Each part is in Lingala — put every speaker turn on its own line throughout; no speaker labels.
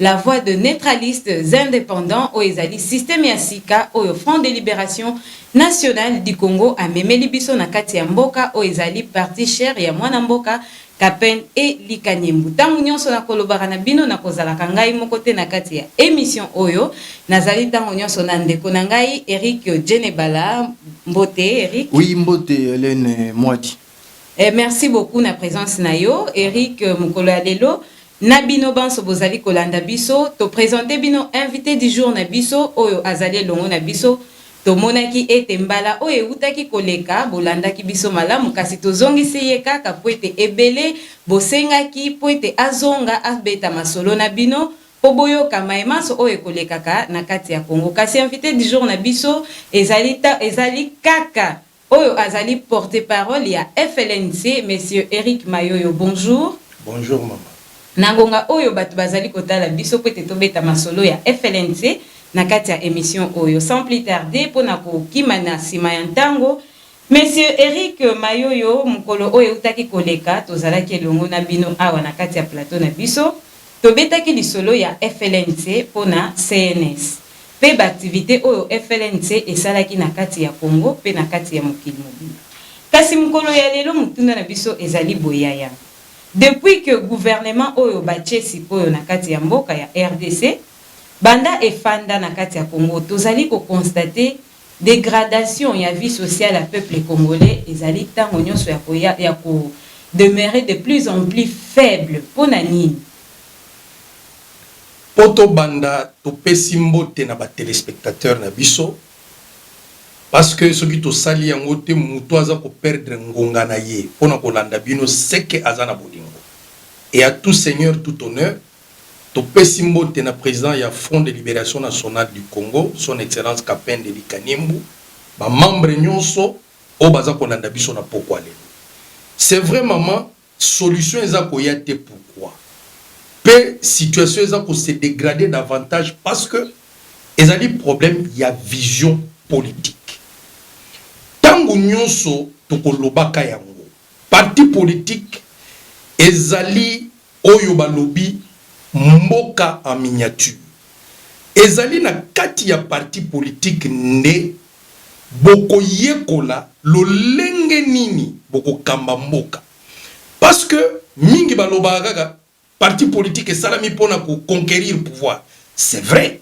La voix de neutralistes independants oyo ezali système ya sika oyo Front de liberation nationale du Congo amemeli biso na kati ya mboka oyo ezali partie chère ya mwana mboka Capen et Likanyembu. Tango nionso nakolobaka na bino nakozalaka ngai moko te na kati ya emission oyo. Nazali tango nionso na ndeko na ngai Eric Djenebala. Mbote Eric. Oui, mbote Helène
Mwadi. Eh merci
beaucoup na presence na yo Eric mokolo ya lelo na bino banso bozali kolanda biso to presenter bino invite du jour na biso oyo azali elongo na biso tomonaki ete mbala oyo ewutaki koleka bolandaki biso malamu kasi tozongisi ye kaka mpo ete ebele bosengaki mpo ete azonga abeta masolo na bino mpo boyoka maye manso oyo ekolekaka na kati ya Congo kasi invite du jour na biso ezali, ezali kaka Oyo azali porte parole ya FLNC, Monsieur Eric Mayoyo, bonjour. Bonjour
mama. Na ngonga oyo
batu bazali kotala biso pwete tobeta masolo ya FLNC na kati ya emission oyo. Sans plus tarder, pona kokima na sima ya ntango, Monsieur Eric Mayoyo, mokolo oyo ewutaki koleka, tozalaki elongo na bino awa na kati ya plateau na biso, Tobetaki lisolo ya FLNC mpo na CNS. mpe ba activites oyo FLNC esalaki na kati ya Congo mpe na kati ya mokili mobimba. Kasi mokolo ya lelo motuna na biso ezali boye, Yaya, depuis que gouvernement oyo batie sik'oyo na kati ya mboka ya rdc banda efanda na kati ya Congo, tozali ko constater Degradation ya vie sociale ya peuple congolais ezali tango nionso ya ko ya ya ko demeurer de plus en plus faible. Pona nini?
Po to banda to pesi mbote na ba telespectateurs na biso parce que soki to sali yango te mutu aza ko perdre ngonga na ye pona ko landa bino ce que aza na bolingo et à tout seigneur tout honneur. Topesi mbote na president ya Front de liberation nationale du Congo, Son Excellence Kapend Elie Kaniembu, ba membres nionso oyo baza kolanda biso na pokwa lelo. C'est vrai maman, solution eza koya te pourquoi? Mpe situation eza ko se degrader davantage parce que ezali problème ya vision politique. Tango nionso tokolobaka yango, parti politique ezali Oyo balobi mboka en miniature ezali na kati ya parti politique nde boko yekola lolenge nini boko kamba mboka parce que mingi balobaka kaka parti politique esalami pona ko conquerir pouvoir c'est vrai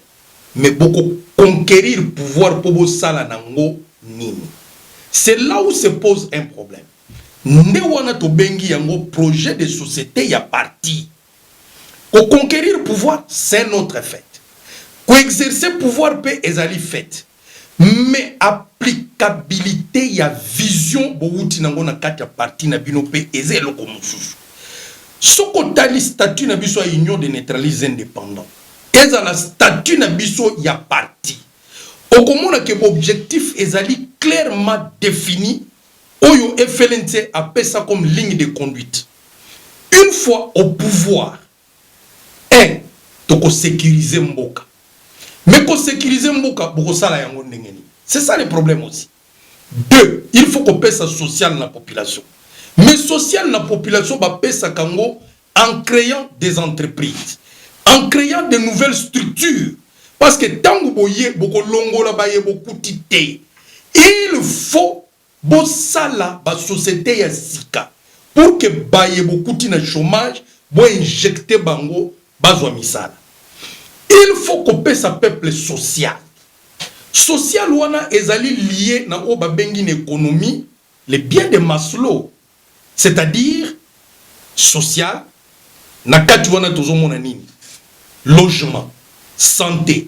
mais boko conquerir pouvoir po bosala na ngo nini c'est là où se pose un problème. Nde wana tobengi yango projet de societe ya parti. Ko conquerir pouvoir c'est un autre fait. Ko exercer pouvoir mpe ezali fait. Mais applicabilite ya vision bowuti nango na kati ya parti na bino mpe eza eloko mosusu. Soki otali statut na biso ya Union des neutralises et independants, ezala statut na biso ya parti, okomona que b'objectifs ezali clairement definis Oyo FLNC apesa comme ligne de conduite. Une fois au pouvoir, un toko securiser mboka. Mais ko securiser mboka bokosala yango ndenge nini? C'est ça le problème aussi. Deux, il faut kopesa social na population. Mais social na population bapesaka yango en creant des entreprises, en creant de nouvelles structures parce que tango boye bokolongola baye bokuti te il faut bosala ba societe ya sika pour que baye bokuti na chomage bo injecte bango bazwa misala il faut kopesa peuple social social wana ezali lie na oyo babengi na economie le bien de maslow C'est-à-dire social, na kati wana tozo mona nini? Logement, sante,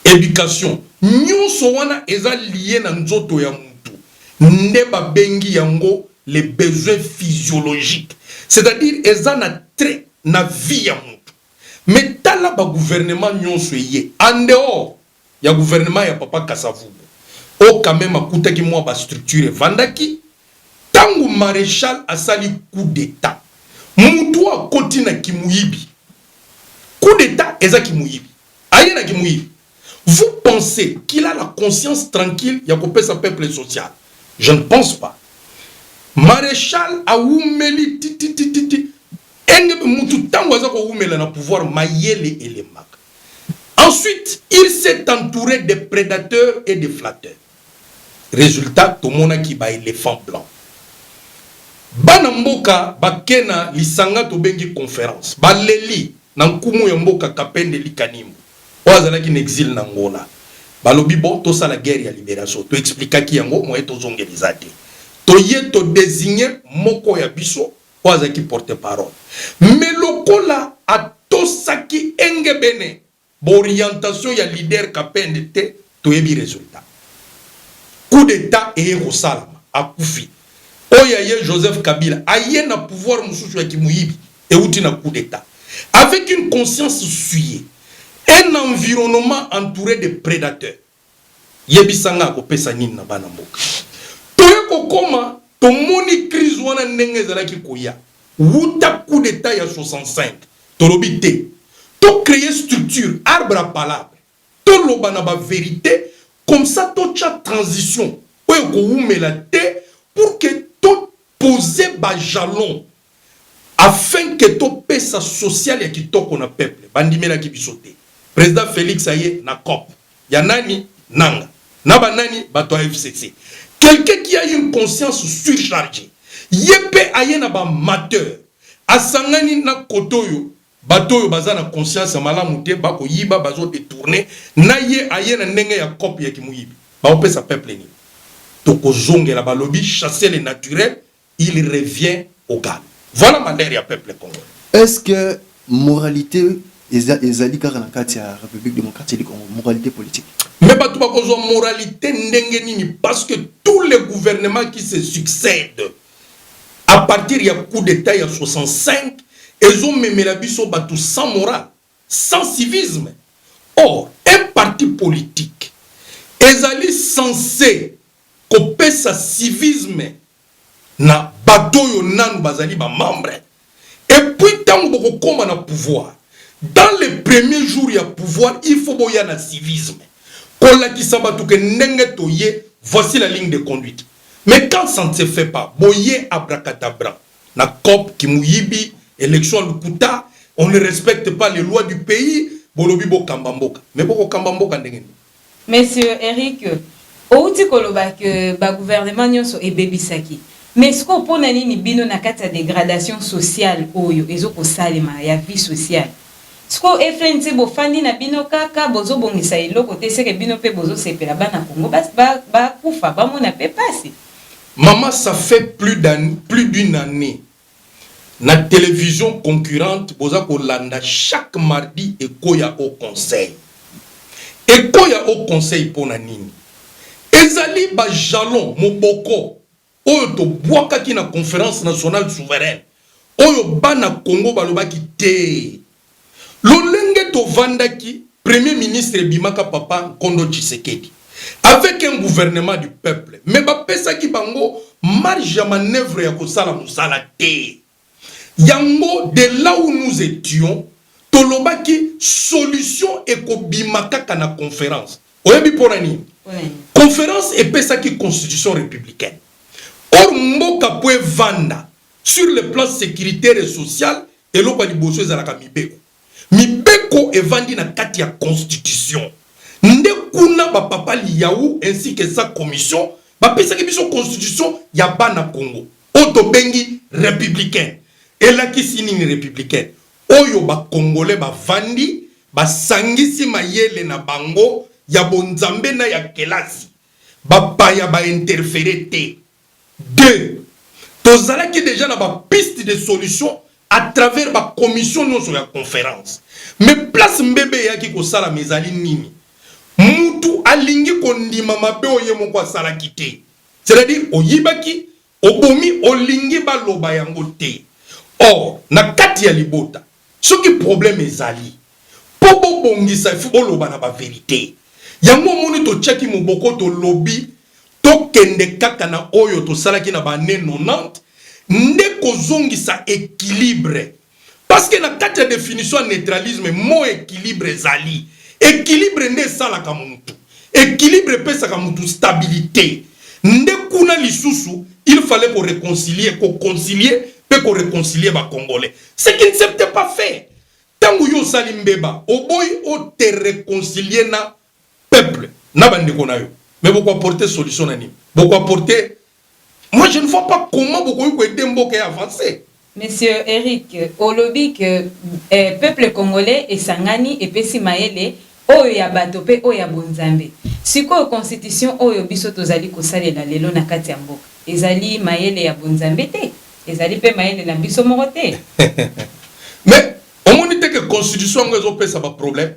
education, nionso wana eza lie na nzoto ya mutu nde ba bengi yango les besoins physiologiques. C'est-à-dire eza na trait na vie ya mutu. Mais tala ba gouvernement nionso eye en dehors ya gouvernement ya papa Kasa-Vubu oyo quand meme akutaki mua ba structures evandaki, tango marechal asali coup d'Etat mutu oyo akoti na kimuyibi, coup d'Etat eza kimuyibi, aye na kimuyibi, vous pensez qu'il a la conscience tranquille ya kopesa peuple social? Je ne pense pas. Marechal awumeli tititititi, engebene mutu tango aza kowumela na pouvoir mayele elembaka. Ensuite il s'est entoure des predateurs et des flatteurs resultat tomonaki ba elephants blancs. Bana mboka bake na lisanga tobengi conference baleli na nkumu ya mboka Kapend Elie Kanimbu oyo azalaki na exile na Angola balobi bon tosala guerre ya liberation to explikaki yango moyen tozongela eza te toye to designer moko ya biso oyo azalaki porte-parole. Mais lokola atosaki engebene b'orientations ya leader Kapend te, toyebi resultat. Coup d'Etat eye kosalama, akufi. Oyo ya ye Joseph Kabila aye na pouvoir mosusu ya kimoyibi ewuti na coup d'Etat. Avec une conscience souillée, un environnement entoure de predateurs. Yebisa nga akopesa nini na bana mboka? Toye kokoma tomoni crise wana ndenge ezalaki koya wuta coup d'etat ya 65 tolobi te to creer structure arbre à palabre toloba na ba verite comme ça totia transition oyo ekowumela te pour que to poser ba jalons Afin que to pesa social ya kitoko na peuple ba ndimelaki biso te president Felix aye na coop ya nani? Nanga na ba nani? Bato ya FCC quelqu'un qui a une conscience surcharge ye pe aye na ba mateurs asangani na cote oyo bato oyo baza na conscience ya malamu te ba ko yiba bazo detourner na ye aye na ndenge ya coop ya ki moyibi ba ko pesa peuple nini? Toko zongela ba lobi chasser le naturel Il revient au galop. Voilà malheur ya peuple congolais. Est ce que
moralite ezali kaka na kati ya Republique democratique du Congo? Moralite politique. Mais batu bakozwa
moralite ndenge nini parce que tous les gouvernements qui se succèdent à partir ya coup d'etat ya 65 ezomemela biso batu sans morale. Sans civisme? Or, un parti politique ezali cense kopesa civisme na bato oyo nanu bazali ba membres. Et puis, tango bokokoma na pouvoir, dans les premiers jours ya pouvoir, il faut boya na civisme, kolakisa bato que ndenge toye, voici la ligne de conduite. Mais quand ça ne se fait pas, boye abracadabran. na coop kimuyibi election ya lokuta on ne respecte pas les lois du pays bolobi bokamba mboka mais boko kamba mboka ndenge nini? Monsieur
Eric, owuti koloba que ba gouvernement nionso ebebisaki mais sikoyo pona nini bino na kati ya degradation sociale oyo ezo kosalema ya vie sociale sikoyo FNC bofandi na bino kaka bozo bongisa eloko te seke bino pe bozo sepela bana Congo ba ba kufa bamona pe pasi Maman ça
fait plus d'un plus d'une annee na television concurrente boza kolanda chaque mardi ekoya au conseil ekoya au conseil pona nini ezali ba jalons moboko oyo tobuakaki na conference nationale souveraine oyo bana congo balobaki tee Lolenge tovandaki premier ministre ebimaka papa nkondo Tshisekedi avec un gouvernement du peuple mais bapesaki bango marge ya manoeuvre ya kosala mosala te yango de là où nous etions tolobaki solution ekobima kaka na conference oyebi pona nini? Conference epesaki constitution republicaine or mboka po evanda Sur le plan securitaire et social, eloko ya liboso ezalaka mibeko. Mibeko evandi na kati ya constitution. Nde kuna ba papa Liyawu ainsi que sa commission bapesaki biso constitution ya bana Congo oyo tobengi republicaine. Elakisi nini republicaine? Oyo ba Congolais bavandi basangisi mayele na bango ya bonzambe na ya kelasi. Bapaya ba interferer te. Deux, tozalaki dejà na ba pistes de solutions à travers ba commissions nionso ya conference. Mais place mbebe eyaki kosalama ezali nini? Mutu alingi kondima mabe oyo ye moko asalaki te. C'est à dire oyibaki, obomi, olingi baloba yango te. Or, na kati ya libota, Soki problème ezali po bo bongisa il faut bo loba na ba verite yango omoni to tiaki moboko to lobi to kende kaka na oyo to salaki na ba annee 90 nde ko zongisa equilibre parceque na kati ya definition ya neutralisme mot equilibre ezali equilibre nde esalaka mutu Equilibre epesaka mutu stabilite nde kuna lisusu il fallait ko reconcilier, ko concilier pe ko reconcilier ba congolais ce qui ne s'est pas fait. Tangu yo osali mbeba oboyi o te reconcilier na peuple na ba ndeko na yo mais boko apporter solution na nini? Boko apporter Moi je ne vois pas comment bokoki ko aider mboka ya avancer. Monsieur Eric,
olobi que eh, peuple congolais esangani epesi mayele, oyo ya bato mpe oyo ya bonzambe. Sikoyo constitution oyo biso tozali kosalela lelo na kati ya mboka, ezali mayele ya bonzambe te? Ezali mpe mayele na biso moko te?
Mais omoni te que constitution yango ezopesa ba problèmes?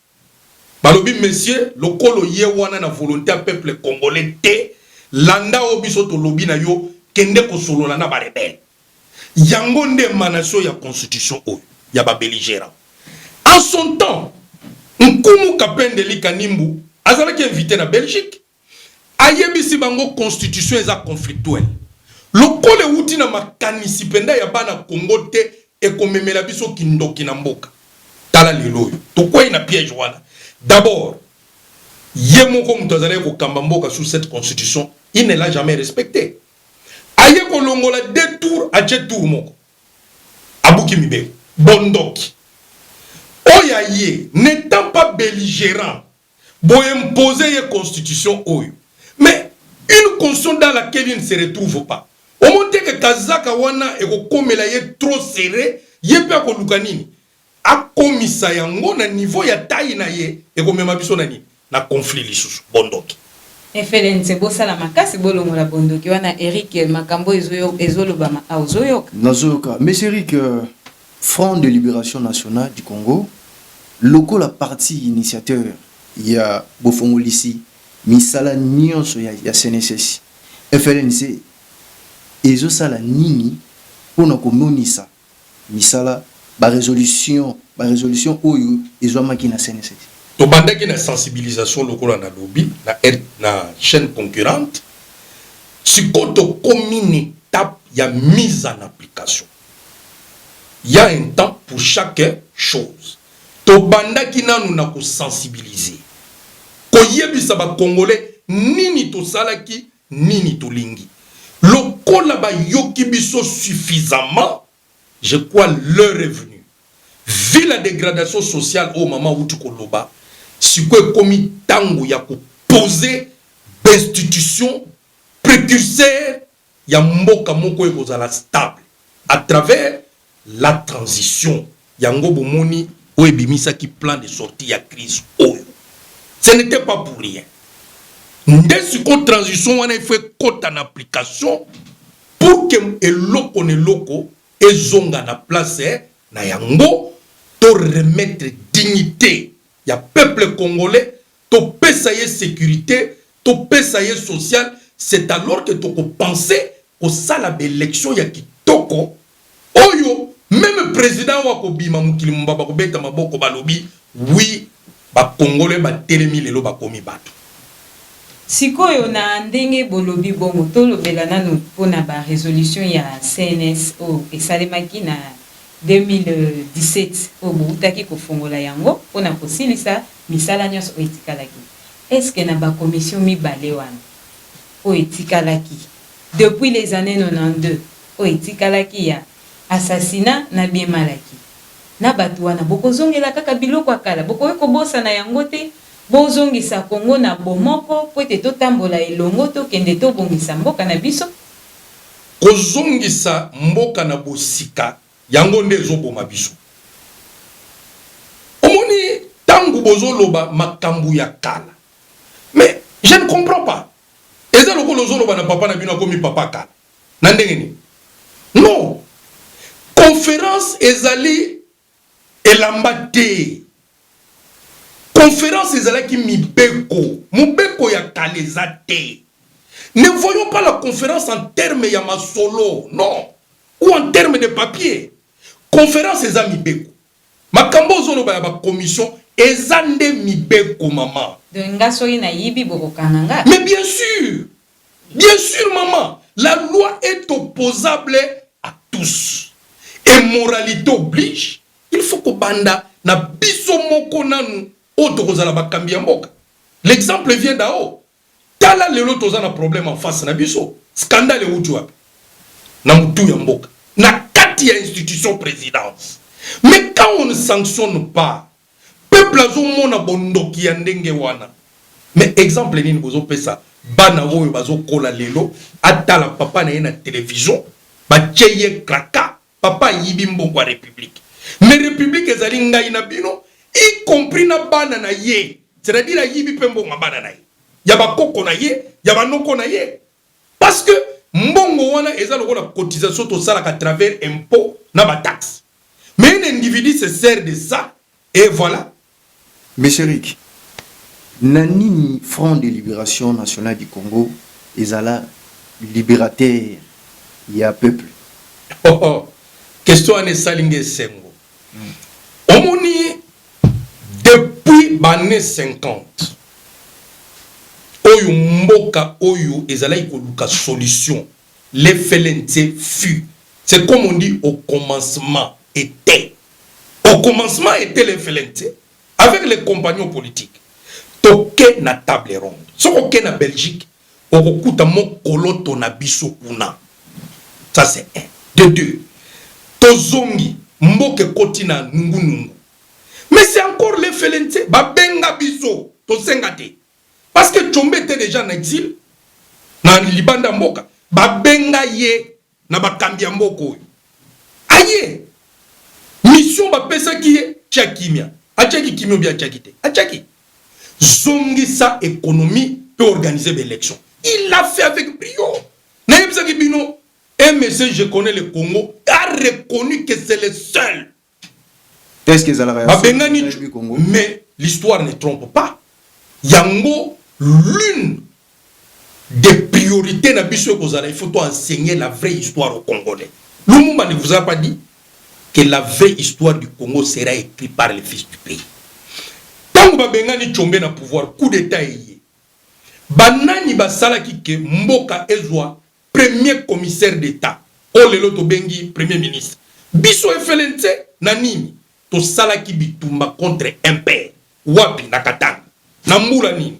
Balobi monsieur lokola oye wana na volonte ya peuple congolais te landa oyo biso tolobi na yo kende kosolola na ba rebelles yango nde emanation ya constitution oyo ya ba belligerants en son temps nkumu kapende lika nimbu azalaki invite na Belgique Ayebisi bango constitution eza conflictuelle lokola ewuti na makanisi penda ya bana Congo te ekomemela biso kindoki na mboka. Tala lelo oyo tokweyi na piège wana. D'abord ye moko moto azalaki kokamba mboka sous cette constitution il ne l'a jamais respectee. Aye kolongola deux tours atie tour moko. Abuki mibeko. Bondoki. Oyo aye n'etant pas belligerant Bo imposer ye constitution oyo mais une constitution dans laquelle il ne se retrouve pas. Omoni te que kazaka wana ekokomela ye trop serre, ye mpe akoluka nini? Akomisa yango na niveau ya taille na ye, ekomema biso na nini? Na conflit lisusu. Bo ndoki. FLNC
bosala makasi bolongola bondoki wana Eric makambo oyo ezolobama awa ozoyoka? Nazoyoka monsieur
Eric. Front de Liberation National du Congo, lokola parti initiateur ya bofongolisi misala nionso ya CNSS, FLNC ezo sala nini mpo na komonisa misala ba resolutions ba resolutions oyo ezuamaki na CNSS? Tobandaki na
sensibilisation lokola nalobi na chaine concurrente, sikoyo tokomi na etape ya mise en application. Il ya un temps pour chaque chose tobandaki nanu na ko sensibiliser koyebisa ba congolais nini tosalaki nini tolingi lokola bayoki biso suffisamment je crois l'heure est venu vu la degradation sociale oyo maman awuti koloba sikoyo ekomi tango ya ko poser b'institutions precurseurs ya mboka moko ekozala stable à travers la transition. Yango bomoni oyo ebimisaki plan de sortie ya crise oyo. Ce n'etait pas pour rien. Nde sikoyo transition wana il faut ekota na application pour que eloko na eloko ezonga na place na yango to remettre dignite ya peuple congolais Topesa ye securite, topesa ye social, c'est alors que toko penser kosala ba elections ya kitoko oyo meme president oyo akobima mokili mobimba bakobeta maboko balobi oui ba congolais batelemi lelo bakomi batu.
Sikoyo na ndenge bolobi bongo, tolobela nanu mpo na ba resolutions ya CNS. oyo esalemaki na 2017 oyo bowutaki kofongola yango mpo na kosilisa Misala nionso oyo etikalaki, est ce que na ba commissions mibale wana oyo etikalaki depuis les annees 92 oyo etikalaki ya assassinat na bien mal acquis na batu wana bokozongela kaka biloko ya kala? Bokoki kobosana yango te? Bozongisa Congo na bomoko mpo ete totambola elongo, tokende tobongisa mboka na biso. Kozongisa
mboka na bosika. Yango nde ezo boma biso omoni tangu bozo loba makambu ya kala mais je ne comprends pas eza lokola ozo loba na papa na bino akomi papa kala na ndenge nini non conference ezali elamba te. Conference ezalaki mibeko, mobeko ya kala eza te. Ne voyons pas la conference en terme ya masolo non ou en terme de papier. Conference eza mibeko. Makambo ozo loba ya ba commission eza nde mibeko mama. Donc nga soki na
yibi boko kanga nga? Mais bien sur!
Bien sur mama! La loi est opposable à tous et moralite oblige. Il faut kobanda na biso moko nanu oyo tokozala bakambi ya mboka. L'exemple vient d'en haut. Tala lelo toza na problème en face na biso. Scandale ewuti wapi? Na mutu ya mboka. Na kati ya institution presidence. Mais quand on ne sanctionne pas, peuple azo mona bondoki ya ndenge wana. Mais exemple nini bozo pesa bana oyo bazo kola lelo atala papa na ye na television batie ye cracas Papa ayibi mbongo ya republique mais republique ezali ngai na bino y compris na bana na ye c'est à dire ayibi pe mbongo ya bana na ye ya ba koko na ye ya ba noko na ye parce que mbongo wana eza lokola cotisation tosalaka à travers impot na ba taxe mais un individu se sert de ça et voilà Monsieur
Eric, na nini Front de liberation nationale du Congo ezala liberateur ya peuple? Oh oh, question
wana esali nga esengo. Omoni depuis ba annees 50 oyo mboka oyo ezalaki koluka solution, l'FLNC fut, c'est comme on dit au commencement, etait au commencement était le FLNC avec les compagnons politiques toke na table ronde soki oke na belgique okokuta mokoloto na biso kuna ça c'est un de deux tozongi mboka ekoti na nungunungu mais c'est encore le FLNC babenga biso tosenga te parce que tshombe était déjà na exil na libanda mboka babenga ye na bakambi ya mboka oyo aye mission bapesaki ye tia kimia atiaki kimia obi atiaki te atiaki zongisa ekonomi mpe organise baelection il a fait avec brio nayebisaki bino msc je connais le congo a reconnu que c'est le seul
Est-ce que ezalaka ya babengani mais
l'histoire ne trompe pas yango l'une des priorités na biso ekozala il faut to enseigner la vraie histoire au congolais lumumba ne vous a pas dit que la vraie histoire du congo sera écrite par les fils du pays ntango babengani combe na pouvoir coup d'état eye banani basalaki ke mboka ezwa Premier commissaire d'etat oyo lelo tobengi premier ministre, biso efele nse na nini? Tosalaki bitumba contre MPR. Wapi? Na Katanga. Na mbula nini?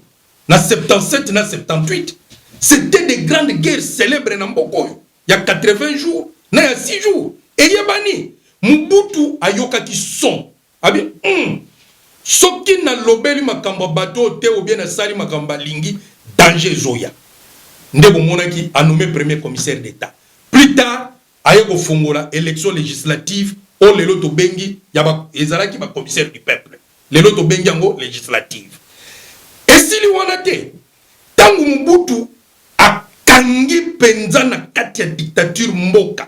Na 77 na 78. C'etait des grandes guerres celebres na mboka oyo, ya 80 jours na ya 6 jours. Eyebani! Mobutu ayokaki son. Abi hum soki na lobeli makambo ya bato oyo te ou bien na sali makambo ba lingi danger ezo ya nde bo monaki a nomme premier commissaire d'etat plus tard aye ko fongola election legislative oyo lelo to bengi ya ba ezalaki ba commissaire du peuple lelo to bengi yango legislative esili wana te tangu Mobutu a kangi penza na kati ya dictature mboka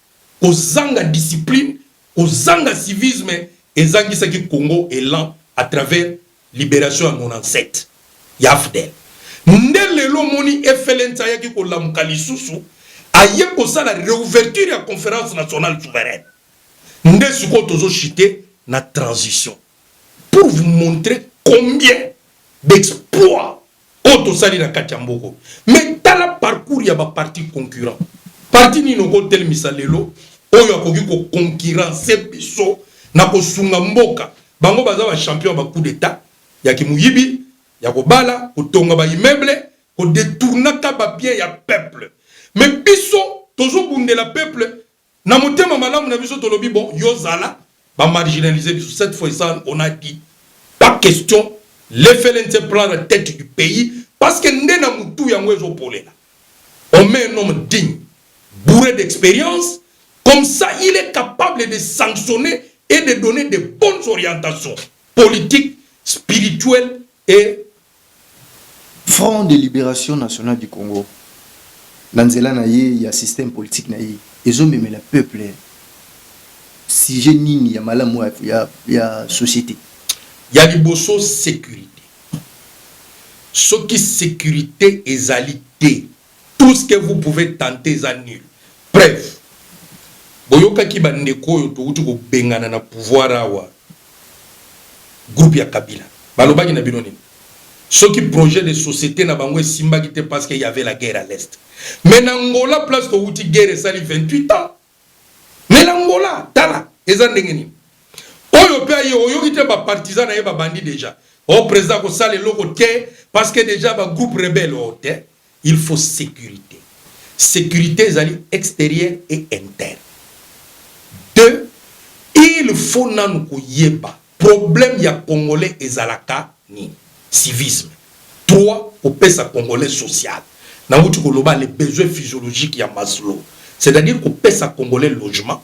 kozanga discipline, kozanga civisme ezangisaki Congo elan à travers liberation ya 97 ya afdl. Nde lelo omoni FLNC ayaki kolamuka lisusu, aye kosala reouverture ya conference nationale souveraine. Nde sikoyo tozo chuter na transition pour vous montrer combien d'exploits oyo tosali na kati ya mboka oyo. Mais tala parcours ya ba partis concurrents. Parti nini okotelemisa lelo oyo akoki ko concurrencer biso na kosunga mboka? Bango baza ba champions ya ba coups d'etat, ya kimoyibi, ya kobala, kotonga ba immeubles, ko detournaka ba biens ya peuple. Mais biso tozobundela peuple Na motema malamu na biso tolobi bon yo zala ba marginalise biso cette fois ça on a dit pas question le flnc prend la tete du pays parce que nde na mutu yango ezo polela on met un homme digne bourre d'experience comme ça il est capable de sanctionner et de donner de bonnes orientations politiques spirituelles et
Front de liberation national du Congo na nzela na ye ya système politique na ye ezo memela peuple sujet nini ya malamu ya societe? Ya
liboso securite, soki securite ezali te Tout ce que vous pouvez tenter eza nul preuve boyokaki ba ndeko oyo towuti kobengana na pouvoir awa groupe ya kabila balobaki na bino nini soki projet de société na bango esimbaki te parce qu'il y avait la guerre à l'est mais na ngola place towuti guerre esali 28 ans Mais l'Angola tala eza ndenge nini? Oyo pe aye oyoki te ba partisans na ye ba bandi dejà oh president ako sala eloko te parce que dejà ba groupe rebelle oh te il faut securite securite ezali exterieur et interne deux il faut nanu koyeba Problème ya congolais ezalaka nini? Civisme. Trois, kopesa congolais social. Nawuti koloba les besoins physiologiques ya Maslow. C'est à dire kopesa congolais logement,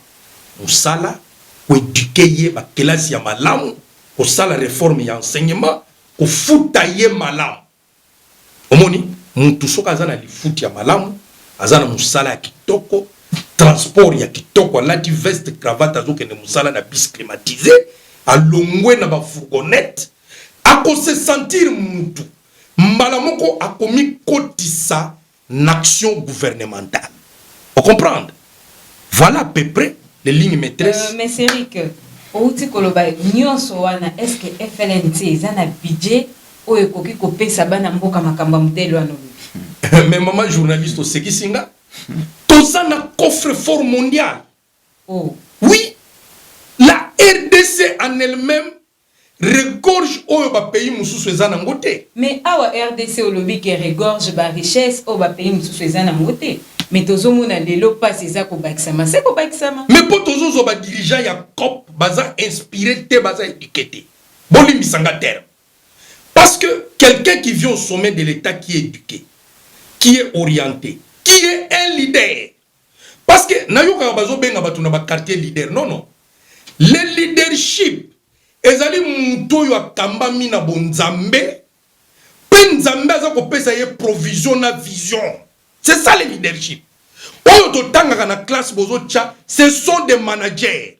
musala, ko eduquer ye ba kelasi ya malamu, kosala reforme ya enseignement, kofuta ye malamu. Omoni mutu soki aza na lifuti ya malamu aza na musala ya kitoko transport ya kitoko alati veste cravate azokende musala na bus climatise alongwe na ba fourgonnette ako se sentir mutu mbala moko akomikotisa n'action gouvernementale o comprendre voilà à peu près les lignes maîtresses. Euh, mais Eric,
outi koloba nyonso wana est-ce que FLNC eza na budget oyo ekoki kopesa bana mboka makambo ya modele wana olobi mais mama
journaliste osekisi nga toza na coffre fort mondial oh.
oui
la rdc en elle-même Regorge oyo ba pays mususu eza na ngo te? Mais awa rdc
olobi ke regorge ba richesse oyo ba pays mususu eza na ngo te mais tozo mona lelo pasi eza ko bakisama se ko bakisama. Mais po tozo zwa ba
dirigeants ya coop baza inspire te baza eduque te bo limbisa nga terme parce que quelqu'un qui vient au sommet de l'etat qui est eduque qui est oriente qui est un leader Parce que nayokaka bazo benga batu na ba quartier leader non non le leadership ezali mutu oyo akambami na bo nzambe pe nzambe aza kopesa ye provision na vision c'est ça le leadership oyo totangaka na classe bozo tia ce sont des managers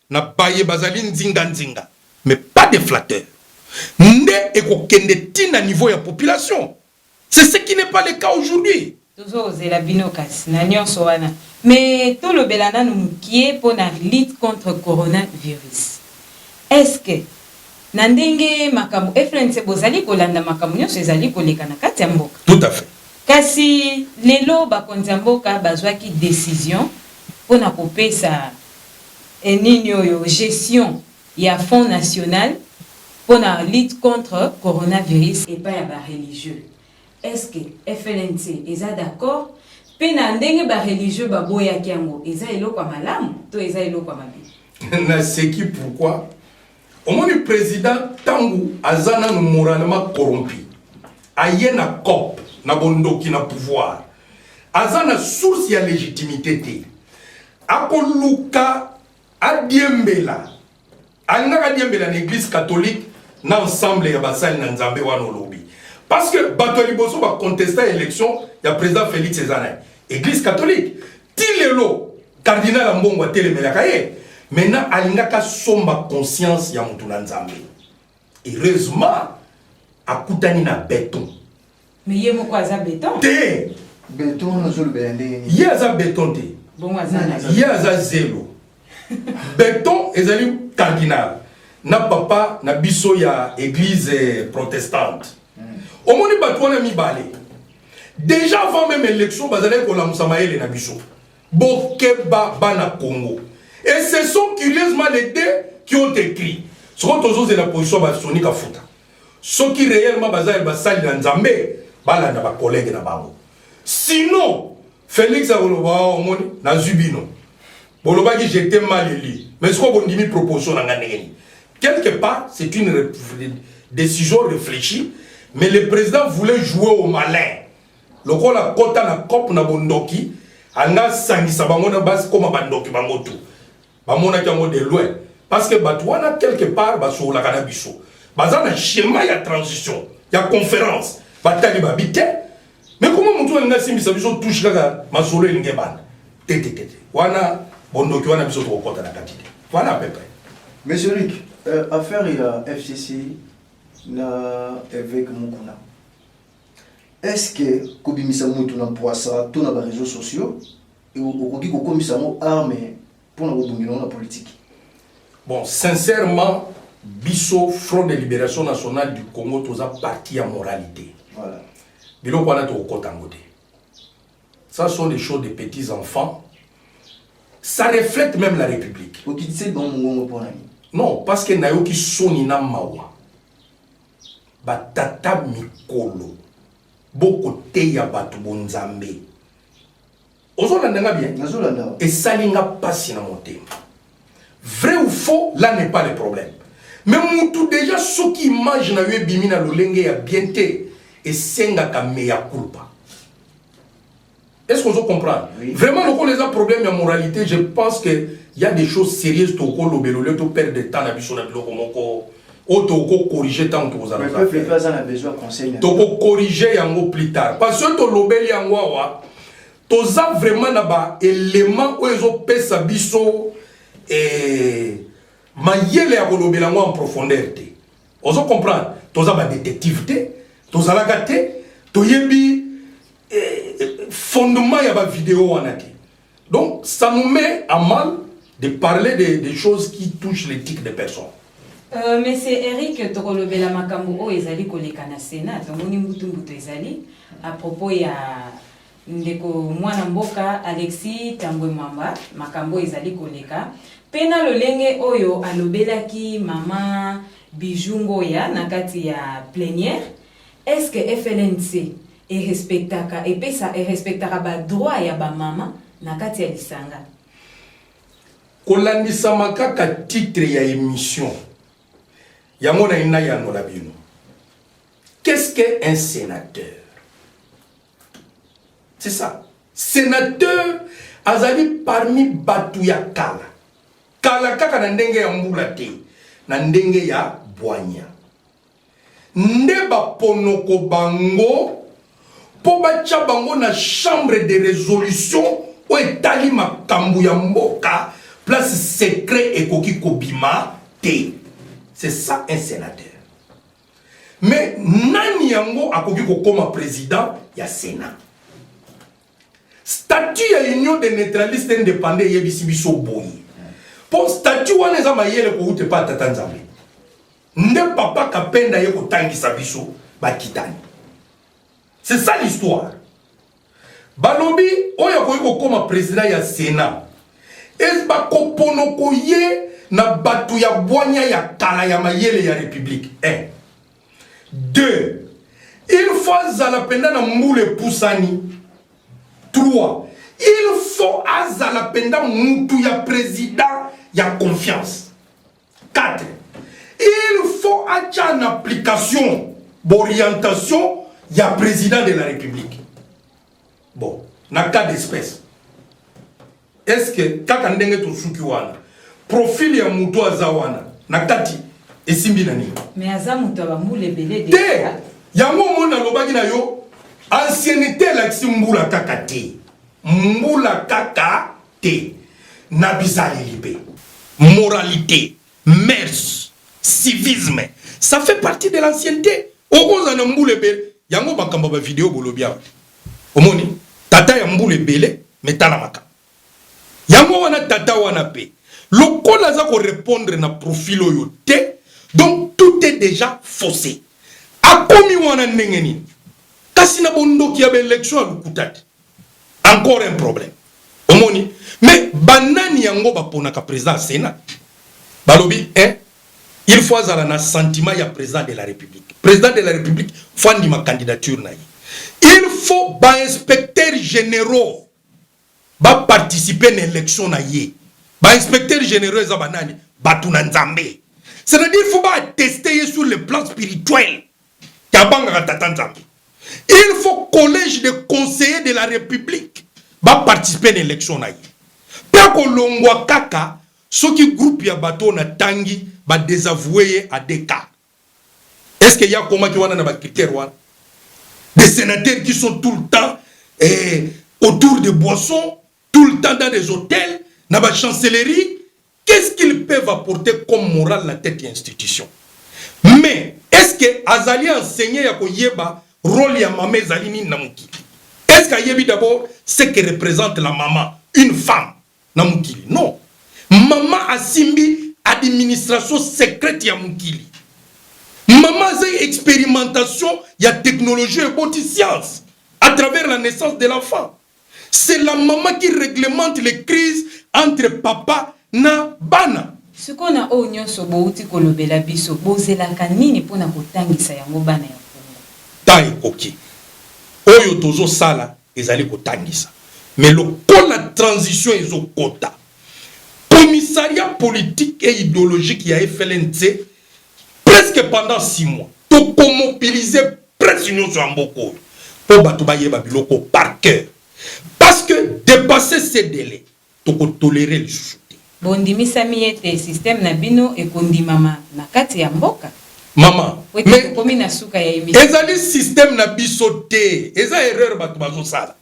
na baye bazali nzinga nzinga mais pas des flatteurs nde ekokende ti na niveau ya population c'est ce qui n'est pas le cas aujourd'hui. Tozozela bino
kasi na nionso wana mais tolobela nanu mukie po na lutte contre corona virus est ce que na ndenge makambo fnc bozali kolanda makambo nionso ezali koleka na kati ya mboka? Tout à fait.
Kasi
lelo bakonzi ya mboka bazwaki decision po na kopesa eh nini oyo gestion ya fond national pona lutte contre coronavirus epai ya ba religieux est ce que FLNC eza d'accord pe na ndenge ba religieux ba boyaki yango eza eloko ya malamu to eza eloko ya mabe? Naseki
pourquoi omoni president tangu aza nanu moralement corrompu aye na cop na bondoki na pouvoir aza na source ya legitimité te akoluka adiembela alingaka adiembela na église catholique na ensemble ya basali na nzambe wana olobi parce que bato ya liboso bacontesta élection ya président félix eza na ye église catholique Ti lelo cardinal Ambongo atelemelaka ye maintenant alingaka somba conscience ya moto na Nzambe. Heureusement akutani na beton. Mais ye moko
aza beton? Te.
Beton
ozolobela ndenge nini? Ye aza beton te.
Bongo aza nani? Ye
aza zelo.
beton ezali cardinal na papa na biso ya église protestante omoni bato wana mibale déjà avant même élection bazalaki kolamusa mayele na biso bokeba bana congo et ce sont curieusement les deux qui ont écrit soko tozozela position basoni kafuta soki reellement baza ba sali na nzambe balanda ba collègue na bango sinon Felix akoloba oh, omoni nazwi bino bolobaki j'étais mal élu mais sikoyo bondimi proposition na ngai ndenge nini quelque part c'est une décision réfléchie mais le président voulait jouer au malin lokola kota na cope na bondoki anga sangisa bango na basi koma bandoki bango tout bamonaki yango de loin parce que bato wana quelque part basololaka na biso baza na schéma ya transition ya conférence batali babi te mais koma motu alingi asimbisa biso touche kaka masolo elingi ebanda tetetete wana bondoki wana biso tokokɔta na kati te voilà à peu près monsieur rik
euh, affaire ya fcc na évêque mokuna est ce que kobimisa motu na mpoisa to na bareseau sociaux okoki kokomisa yango arme mpo na kobundela yango na politiki bon
sincèrement biso front de libération nationale du congo toza parti ya moralité voilà.
biloko wana
tokokota yango te ça sont des choses de petits enfants ça reflète même la république okitise bango mongongo mpo na nini non parce que nayoki soni na mawa batata mikolo bokoteya bato bonzambe ozolanda nga bien nazolanda esali nga mpasi na motema vrai ou faux là n'est pas le problème mais mutu déjà soki image na yo ebimi na lolenge ya bien te esengaka meya culpa est ce que ozo comprendre oui. vraiment lokola eza problème ya moralité je pense que y a des choses sérieuses tokolobela olio to perdre de temps na biso na biloko moko oyo tokokorige ntango tokozala tokokorige yango plus tard parce que tolobeli yango awa toza vraiment na baelema oyo ezopesa biso eh, mayele ya kolobela yango en profondeur te ozo comprendre toza badetective te tozalaka te toyebi eh, eh fondement ya bavideo wana te Donc ça nous met à mal de parler des de choses qui touchent l'éthique des personnes. Euh, Monsieur
Eric tokolobela makambo oyo ezali koleka na Sénat tomoni mbutu mbutu ezali à propos ya ndeko mwana mboka Alexis Tambwe Mwamba makambo ezali koleka mpe na lolenge oyo alobelaki mama Bijou Ngoya na kati ya plenière est-ce que FLNC e respectaka epesa e respectaka ba droit ya ba mama na kati ya lisanga kolandisama
kaka titre ya emission yango na ina yanola bino qu'est-ce que un sénateur c'est ça sénateur azali parmi bato ya kala kala kaka na ndenge ya mbula te na ndenge ya bwanya nde baponoko bango mpo batya bango na chambre de resolution oyo etali makambo ya mboka place secret ekoki kobima te c'est ça un sénateur mais nani yango akoki kokoma président ya sénat statut ya union de neutraliste indépendant eyebisi biso boye mpo statut wana eza mayele kowuta epai ya tata nzambe Nde papa Kapenda ye kotangisa biso bakitani. C'est ça l'histoire. Balobi oyo akoki kokoma president ya Sénat. Et bakoponoko ye na bato ya bwanya ya kala ya mayele ya République. 1. Eh. 2. Il faut azala mpenza na mbula epusani. 3. Il faut azala mpenza mutu ya president ya confiance. 4 il faut atya en application borientation ya président de la république bon na cas d'espèce est ce que kaka ndenge tosuki wana profil ya moto aza wana na kati esimbi na nini mais aza moto ya
bambula ebele te yango
omoni nalobaki na yo anciennité elakisi mbula kaka te mbula kaka te na bizaleli mpe moralite, mœurs, civisme ça fait partie de l'ancienneté. Okozala na mbula ebele yango makambo ba video bolobi awa omoni tata ya mbula ebele metala makambo yango wana tata wana mpe lokola aza korepondre na profil oyo te donc tout est déjà faussé akomi wana ndenge nini kasi na bondoki ya baelection ya lokuta te encore un problème omoni mais banani yango baponaka président ya sénat balobi eh, il faut azala na sentiment ya président de la république président de la république faut andima candidature na ye il faut bainspecteur généraux baparticipe na élection na ye bainspecteur généraux eza banani bato na nzambe c'est-à-dire faut baatteste ye sur le plan spirituel tabangaka tata nzambe il faut collège de conseiller de la république ba participer na élection na ye mpe akolongwa kaka soki groupe ya bato oyo natangi badesavoue ye a deux cas est ce que ye akomaki wana na bacritère wana des sénateurs qui sont tout le temps eh, autour de boissons tout le temps dans des hôtels na bachancellerie Qu'est ce qu'ils peuvent apporter comme morale na tete ya institution? Mais est ce que azali enseigne ya ko yeba role ya mama ezali nini na mokili? Est ce que ayebi d'abord ce que represente la mama, une femme na mokili? Non. Mama asimbi administration secrète ya mokili. Mama azali experimentation ya technologie eboti science à travers la naissance de l'enfant. C'est la maman qui reglemente les crises entre papa na bana. Sikoyo na oyo
nionso bowuti kolobela biso, bozelaka nini mpo na kotangisa yango bana ya Congo? Temps
ekoki. Oyo tozo sala ezali kotangisa mais lokola transition ezo kota, commissariat politique et ideologique ya FLNC presque pendant six mois toko mobiliser Presse nioso ya mboka oyo po batu bayeba biloko par cœur parce que depasse ce delai toko tolerer lisusu te. Bondimisami
ete système na bino ekondimama na kati ya mboka? Maman
mais ezali
système na
biso te eza erreur batu bazosala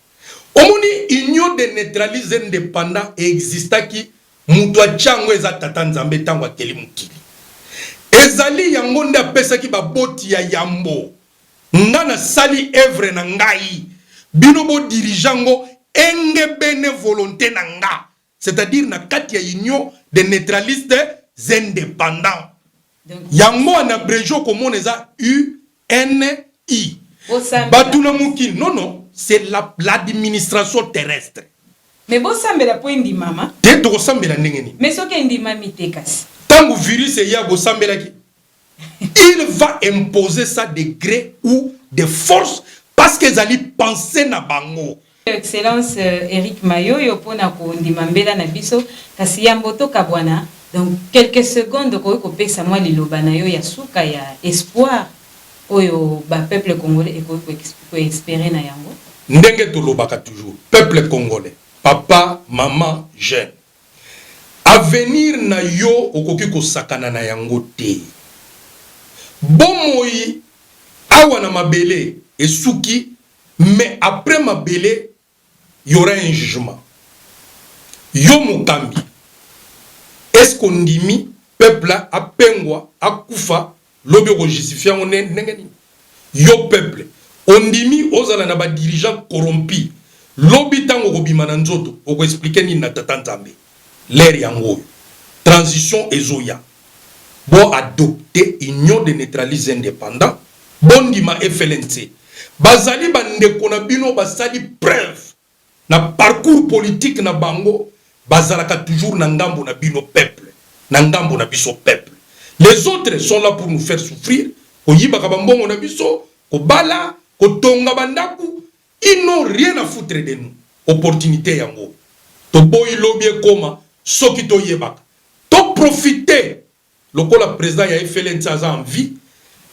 omoni union de neutralise independant existaki Moto atya yango eza Tata Nzambe ntango akeli mokili. Ezali yango nde apesaki baboti ya yambo. Ngai nasali evre na ngai, bino bo dirige yango engebene volonte na nga, c'est-à-dire na kati ya Union des neutralistes independants. Yango en abrege okomona eza NI batu na mokili non non c'est la l'administration terrestre. Mais bosambela
po endimama. Te tokosambela ndenge
nini? Mais soki endimami
te kasi. Tango virus eya
bosambelaki? Il va imposer ça de gré ou de force parce que ezali pensee na bango. Excellence
Eric Mayoyo pona ko ndima mbela na biso kasi yambo to kabwana donc quelques secondes okoki ko pesa mwa liloba na yo ya suka ya espoir oyo ba peuple congolais ekoki ko esperer na yango? Ndenge to lobaka
toujours peuple congolais papa maman jeune avenir na yo okoki ko sakana na yango te bomoi awa na mabele esuki Mais après mabele y'aura un jugement yo mokambi est ce que ondimi peuple apengwa akufa lobi oko justifie yango ndenge nini yo peuple ondimi ozala na ba dirigeants corrompus lobi tango okobima na nzoto oko explique nini na tata nzambe L'heure yango oyo transition ezo ya bo adopte union de neutralise independant bo ndima FLNC bazali ba ndeko na bino basali preuve na parcours politique na bango bazalaka toujours na ngambo na bino peuple na ngambo na biso peuple les autres sont la pour nous faire souffrir koyibaka ba mbongo na biso kobala kotonga ba ndaku Ils n'ont rien à foutre de nous opportunite yango toboyi lobi ekoma soki to yebaka to profite lokola president ya FLNC aza en vie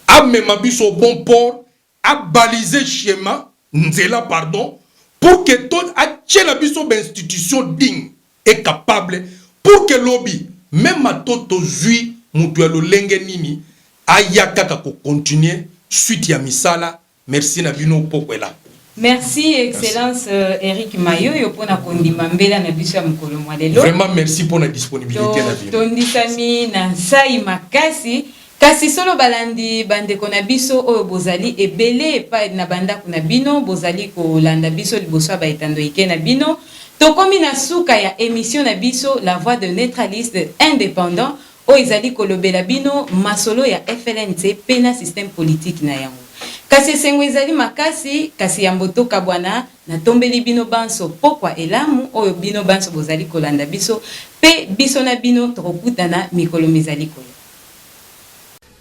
amema biso au bon port a balise chema nzela pardon pour que to atiela biso ba institutions digne et capable pour que lobi meme ato tozui mutu ya lolenge nini aya kaka ko continuer suite ya misala Merci na bino pokue la. Merci
excellence Eric Mayoyo pona kondima mbela na biso ya mokolo mwa lelo. Vraiment merci pona
disponibilite na bino. Tondisami na
nsai makasi. Kasi solo balandi bandeko na biso oyo bozali ebele epai na bandako na bino bozali kolanda biso liboso ya baetando ike na bino tokomi na suka ya emission na biso la voix de neutraliste independant Oyo ezali kolobela bino masolo ya FLNC mpe na système politique na yango. Kasi esengo ezali makasi, kasi yambo tokabwana, natombeli bino banso pokwa elamu oyo bino banso bozali kolanda biso, mpe biso na bino tokokutana mikolo mizali koya.